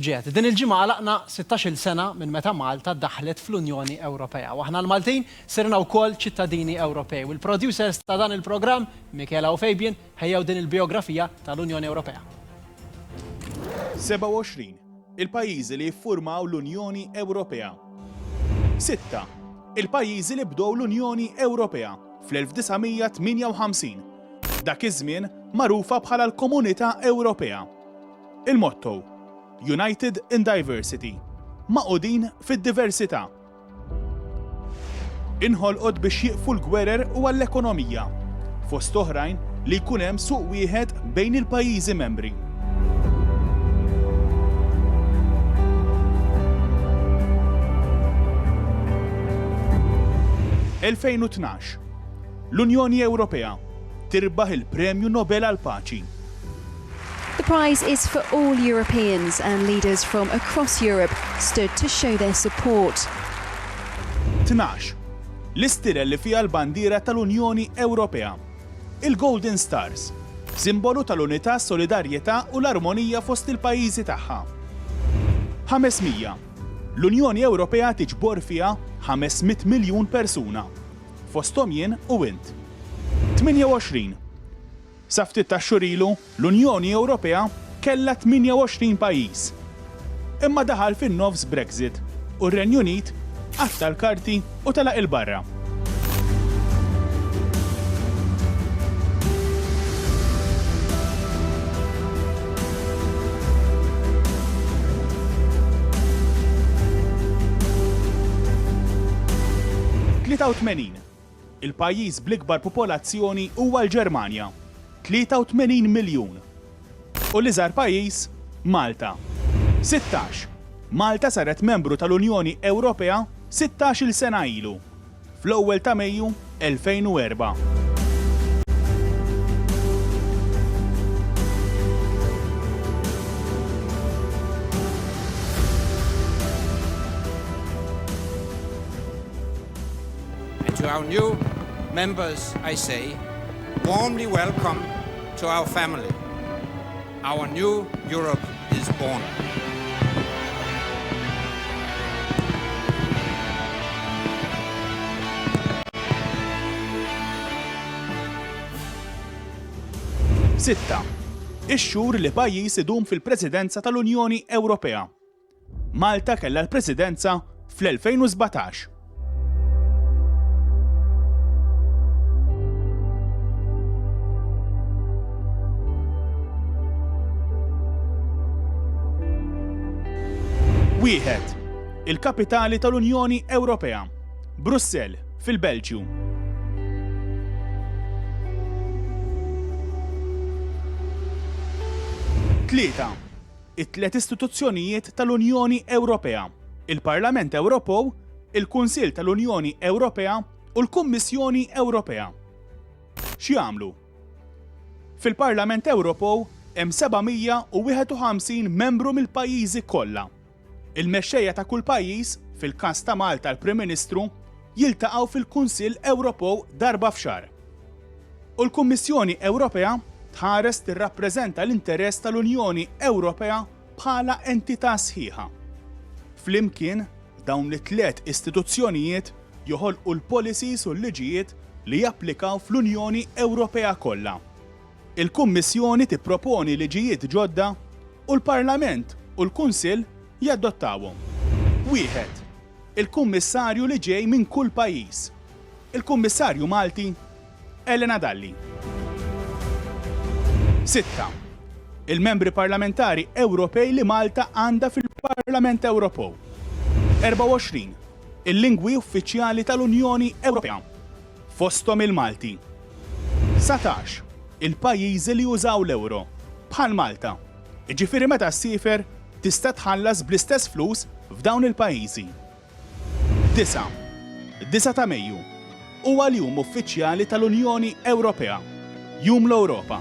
Ġiet din il-ġimgħa għalaqna sittax-il sena minn meta Malta daħlet fl-Unjoni Ewropea u aħna l-Maltin sirna wkoll ċittadini Ewropej u l-producers ta' dan il-programm, Michela u Fabian, ħejjew din il-bijografija tal-Unjoni Ewropea. 27 il-pajjiżi li ffurmaw l-Unjoni Ewropea. Sitta il-pajjiżi li bdew l-Unjoni Ewropea fl-1958, dak iż-żmien magħrufa bħala l-Komunità Ewropea. Il-motto, United in Diversity, Magħqudin fid-Diversità, inħolqot biex jieqfu l-gwerer u għall-ekonomija, fost oħrajn, li jkun hemm suq wieħed bejn il-pajjiżi membri. Elfejn u tnax, L-Unjoni Ewropea tirbaħ il-Premju Nobel għall-Paċi. The prize is for all Europeans and leaders from across Europe stood to show their support. Tnax, L-istirel li fiha l-bandiera tal-Unjoni Ewropea. Il-Golden Stars, simbolu tal-unità, solidarjetà u l-armonija fost il-pajjiżi tagħha. 500, L-Unjoni Ewropea tiġbor fiha 500 miljun persuna, fosthom jien u int. 28, Sa ftit tax-xhur ilu, l-Unjoni Ewropea kellha 28 pajjiż. Imma daħal fin-nofs Brexit u r-Renju Unit qatta' l-karti u telaq 'il barra. Tlieta u tmenin Il-pajjiż bl-ikbar popolazzjoni huwa l-Ġermanja, 83 miljun, u l-iżgħar pajjiż Malta, 16. Malta saret membru tal-Unjoni Ewropea sittax-il sena ilu, fl-ewwel ta' Mejju 2004. And to our new members I say warmly welcome to our family. Our new Europe is born. Sitta, ix-xhur li pajjiż idum fil-Presidenza tal-Unjoni Ewropea. Malta kellha l-Presidenza fl-2017. Wieħed, il-kapitali tal-Unjoni Ewropea, Brussell, fil-Belġju. Tlieta, it-tliet istituzzjonijiet tal-Unjoni Ewropea, il-Parlament Ewropew, il-Kunsill tal-Unjoni Ewropea u l-Kummissjoni Ewropea. X'jagħmlu? Fil-Parlament Ewropew hemm 751 membru mill-pajjiżi kollha. Il-mexxejja ta' kull pajjiż, fil-każ ta' Malta l-Prim Ministru, jiltaqgħu fil-Kunsill Ewropew darba f'xahar. U l-Kummissjoni Ewropea tħares tirrappreżenta l-interess tal-Unjoni Ewropea bħala entità sħiħa. Flimkien, dawn it-tliet istituzzjonijiet joħolqu l-policies u l-liġijiet li japplikaw fl-Unjoni Ewropea kollha. Il-Kummissjoni tipproponi liġijiet ġodda u l-Parlament u l-Kunsill jadottawhom. Wieħed, il-Kummissarju li ġej minn kull pajjiż Il-Kummissarju Malti Elena Dalli. Sitta, il-Membri Parlamentari Ewropej li Malta għandha fil-Parlament Ewropew. 24, il-lingwi uffiċjali tal-Unjoni Ewropea, fosthom il-Malti. 19, il-pajjiżi li jużaw l-euro, bħal Malta, jiġifieri meta ssiefer tista' tħallas bl-istess flus f'dawn il-pajjiżi. Disa', Disa' ta' Mejju, huwa l-jum uffiċjali tal-Unjoni Ewropea, Jum l-Ewropa.